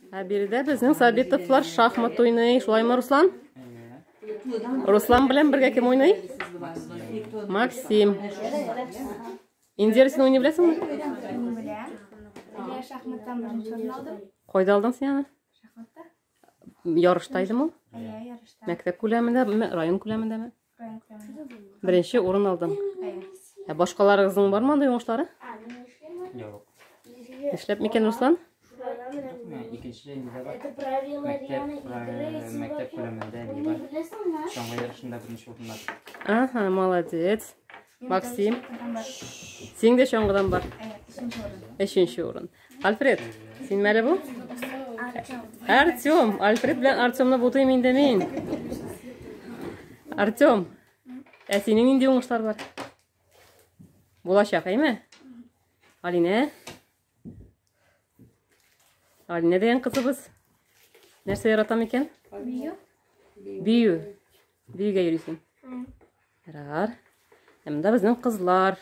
Ә биредә безнең Сабитовлар шахмат уйный. Шулаймы, Руслан? Руслан белән бергә кем уйный? Максим. Индира, син уйный беләсеңме? Шахматтан беренче урын алдым. Кайда алдың син аны? Шахматта. Ярышта идеме? Иә, ярышта. Мәктәп күләмендә, район күләмендәме? Беренче урын алдың. Ә башкаларыгызның бармы андый уңышлары? Юк. Эшләп микән Руслан? Икенче инде бар. Мәктәп күләмендә не бар. Соңгы ярышында беренче урыннар. Ага, молодец. Максим. Синдә чаңгыдан бар. Өченче урын. Альфред, син мәле бу? Артем, Альфред белән Артемны бутыйм инде мин. Артем, ә синең нинди уңышлар бар? Булачак, әйме? Алинә? Алинә дигән кызыбыз. Нәрсә яратам икән? Бию. Бию. Биюгә йөрисең. Ярар. Ә монда безнең кызлар.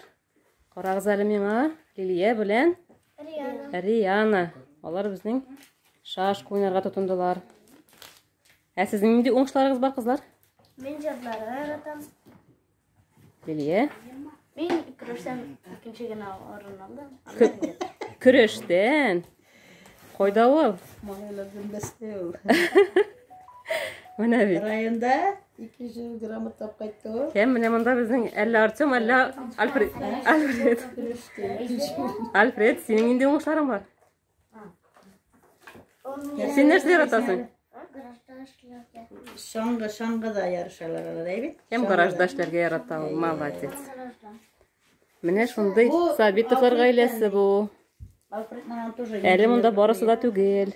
Карагыз әле миңа, Лилия белән Риана. Риана. Алар безнең шаш уйнарга тотындылар. Ә сезнең нинди уңышларыгыз бар, кызлар? Мин җырларга яратам. Лилия? Мин көрәштән икенче генә орын алдым. Көрәштән? Кайда ул? Менә бит. Районда 200 грамм тап кайтты. Кем менә монда безнең әллә Артем, әллә Альфред. Альфред. Альфред, синең нинди уңышларың бар? Син нәрсә яратасың? Шаңгы, шаңгыда ярышалар алар, әйбит. Кем гаражда эшләргә ярата ул? Молодец. Менә шундый Сабитовлар гаиләсе бу. Әле монда барысы да түгел.